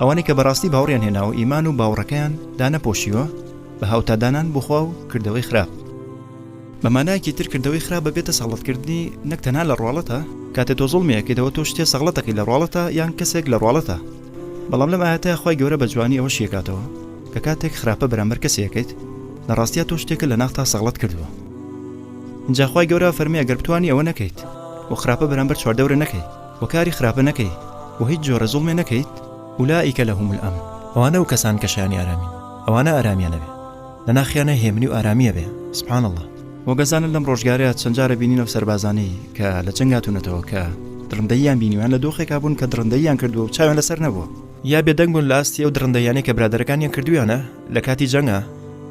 ئەوانەی کە بەڕاستی باوەڕیان هێناوە ئیمان و باوەڕەکەیان دانەپۆشیوە بە هاوتادانان بۆ خوا و کردەوەی خراپ. بە مانایەکی تر کردەوەی خراپ بەبێتە سەغڵەتکردنی نەک تەنها لە ڕواڵەتا، کاتێ تۆ زوڵمی ئەکەیت ئەوە تۆ شتێ سەغڵەتەکەی لە ڕواڵەتا یان کەسێک لە ڕواڵەتا، بەڵام لەم ئایەتە خوای گەورە بە جوانی ئەوە شیئەکاتەوە کە کاتێک خراپە بەرامبەر کەسێ ئەکەیت لە ڕاستیا تۆ شتێکت لە ناختا سەغڵەت کردووە ئینجا خوای گەورە ئەفەرمێ ئەگەر بتوانی ئەوە نەکەیت و خراپە بەرامبەر چواردەورە نەکەی، و کاری خراپە نەکەی و هیچ جۆرە زوڵمێ نەکەیت ئولائیکە لەهم الامن ئەوانە ئەو کەسان کە شایانی ئارامین ئەوانە ئارامیان ئەبێ لە ناخیانە هێمنی و ئارامی ئەبێ سبحان اللە و گەزانن لەم ڕۆژگارەیا چەند جارە بینین ئەو سەربازانەی کە لە جەنگ هاتوونەتەوە کە دڕندەییان بینیویان لە دۆخێکا بوون کە دڕندەییان کردووە و چاویان لەسەر نەبووە یا بێدەنگ بوون لە ئاستی ئەو دڕندەییانەی کە برادەرەکانیان کردوویانە لە کاتی جەنگا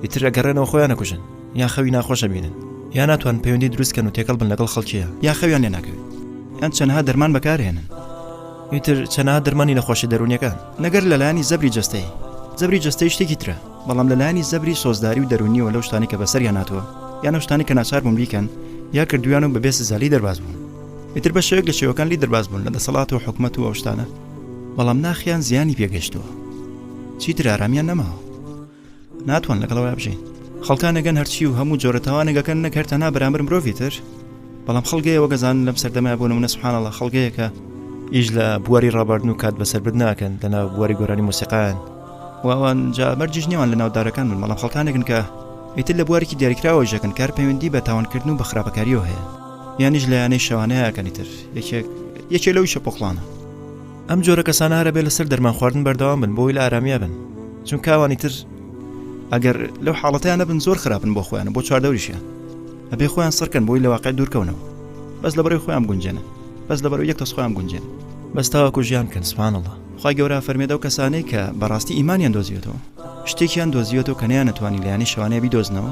ئیتر ئەگەڕێنەوە خۆیان ئەکوژن. یان خەوی ناخۆش ئەبینن یا ناتوان پەیوەندی دروستکەن و تێکەڵ بن لەگەڵ خەڵکیە یا خەویان لێ ناکەوێت یان چەنها دەرمان بەکارهێنن ئیتر چەنها دەرمانی نەخۆشی دەرونیەکان نەگەر لەلایانی زەبری جستەی زەبری جستەی شتێکی ترە بەڵام لەلایانی زەبری سۆزداری و دەرونیەوە لەو شتانی کە بەسەر یاناتوە یانە شتانی کە ناچار بوون بیکەن یا کردویان و بەبێ سزالی دەرباز بوون ئیتر بە شێوەک لە شێوەکان لی دەرباز بوون لە دەسەڵات و حکومەت و ئەوشتانە بەڵام ناخیان زیانی پێگەشتووە چیتر ئارامیان نەماوە ناتوان لەگەڵ ئەوە بژین خەڵکانەگەن هەرچی و هەموو جۆرە تاوانێگەکەن نەک هەر تەنها بەرامبەر مرۆڤی تر بەڵام خەڵگەیە وەگەزان لەم سەردەمای بۆ نمونە سبحانەڵە خەڵگەیەکە ئیش لە بواری ڕاباردن و کات بەسەر بد ناکەن لەناو بواری گۆرانی مۆسیقان واوان جا مەرجیش نێوان لە ناودارەکان من بەڵام خەڵکانێکن کە ئیتر لە بوارێکی دیاریکراوە ژەکەن کار پەیوەندی بە تاوانکردن و بە خراپەکاریەوە هەیە یانیش لە یانەی شەوانەیەکەنی تر یەکێک یەکێ لەو شە پۆخڵانە ئەم جۆرە کەسانە هەرە بێ لەسەر دەرمان خواردن بەردەوام بن بۆی لە ئارامیە بن چون کاوانی تر ئەگەر لەو حاڵەتیان نەبن زۆر خراپن بۆ خۆیان بۆ چواردەوریشیان ئەبێ خۆیان سڕکەن بۆی لە واقع دوورکەونەوە بەس لە بەرەی خۆیان گونجێنە بەس لە بەرەو یەک تەس خۆیان گونجێن بەس تاواکو ژیان کەن سوانەڵە خی گەورە فەرمێدە و کەسانەی کە بەڕاستی ئیمانیان دۆزیێتەوە شتێکیان دۆزیێتەوە کە نیان نتوانانی لایانی شوانەیە بیدۆزنەوە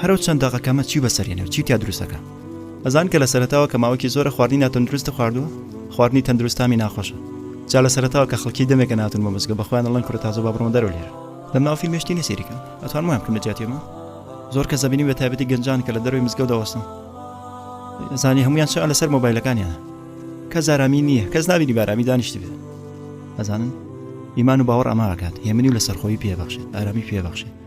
هەرو چەند دەقەکەمە چیو بەسەر یەنێ و چی تیا دروست ئەکا ئەزان کە لە سەرەتاوە کە ماوەکی زۆرە خواردنی ناتەندروست خواردوە خواردنی تەندروست تامی ناخۆشە جا لە سەرەتاوە کە خەڵکی دەمێکە ناتون بۆ مزگە بە خۆیان ئەڵێن کورە تازە با بڕۆن دەرەوە لێرە لەم ناو فیلمێ شتی نیە سەیری کەم ئەتوانم وایان بکەم لە جیاتی ئەمە زۆر کەس دەبینی بە تایبەتی گەنجان کە لە دەروی مزگەوت دەوەستن زانی هەمویان چا لەسەر مۆبایلەکانیانە کە زارامی نییە کەس نابینی بارامی دانیشتی بێت ئەزانن ئیمان و باوەڕ ئەما ئەکات هێمنی و لەسەرخۆی پێبەخشێت ئارامی پێبەخشێت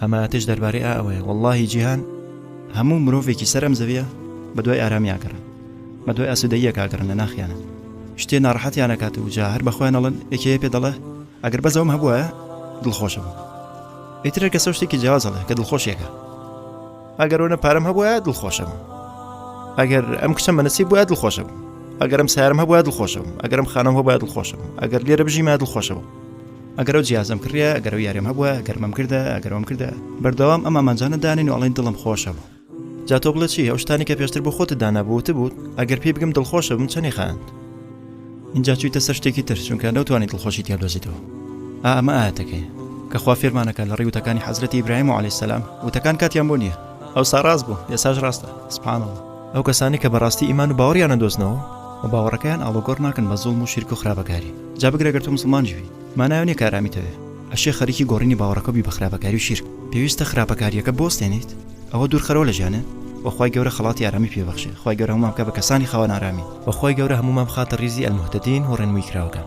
ئەماتش دەربارەی ئا ئەوەیە وەڵاهی جیهان هەموو مرۆڤێکی سەر ئەم زەویە بە دوای ئارامی ئاگەڕن بە دوای ئاسوودەییەک ئاگەڕن لە ناخیانە شتێ ناڕەحەتیان ئەکات و جا هەر بە خۆیان ئەڵێن یەکێ یە پێ دەڵێ ئەگەر بەس ئەوەم هەبووایە دڵخۆش ئەبووم ئیتر هەر کەسە شتێکی جیاواز ئەڵێ کە دڵخۆشیەکە ئەگەر ئەوەنە پارەم هەبووایە دڵخۆش ئەبووم ئەگەر ئەم کچەم بە نەسیب بووایە دڵخۆش ئەبووم ئەگەرم سارم هەبووایە دڵخۆش ئەبووم ئەگەرم خانەم هەبووایە دڵخۆش ئەبووم ئەگەر لێرە بژیمایە دڵخۆش ئەبووم ئەگەر ئەو جیازم کڕیە ئەگەر ئەو یاریم هەبووە ئەگەر مەم کردە ئەگەر وەم کردە بەردەوام ئەم ئامانجانە دانین و ئەڵێن دڵم خۆشە بوو جا تۆ بڵێ چی ئەو شتانی کە پێشتر بۆ خۆت دانابووت بوو ئەگەر پێی بگەم دڵخۆشە بم چەنی خاند اینجا چوویتە سەر شتێکی تر چونکە نەوتوانی دڵخۆشی تیادۆزیتەوە ئەمە ئاەتەکەی کە خوا فێرمانەکە لە ڕیوتەکانی حەزرەتی ئیبراهیم و علی سەسلام وتەکان کاتیان بۆ نییە ئەو ساڕاست بوو ئێساش ڕاستە سپانەوە ئەو کەسانەی کە بەڕاستی ئیمان و باوەڕیان نەدۆزنەوە و باوەڕەکەیان ئاڵۆگۆڕ ناکەن بە زوڵم و شیرک و خراپەکاری جا بگرە گەر تۆ موسڵمانیش بی مانای ئەوە نییە کە ئارامیت هەبێ ئەشێ خەریکی گۆڕینی باوەڕەکە بی بە خراپەکاری و شیرک پێویستە خراپەکارییەکە بوەستێنیت ئەوە دوورخەرەوە لە ژیانت و خوای گەورە خەڵاتی ئارامی پێ بەخشێ خوای گەورە هەموومان بکا بە کەسانی خاوەن ئارامی و خوای گەورە هەموومان بخاتە ڕیزی المهتدین و ڕێنمووی کراوەکان.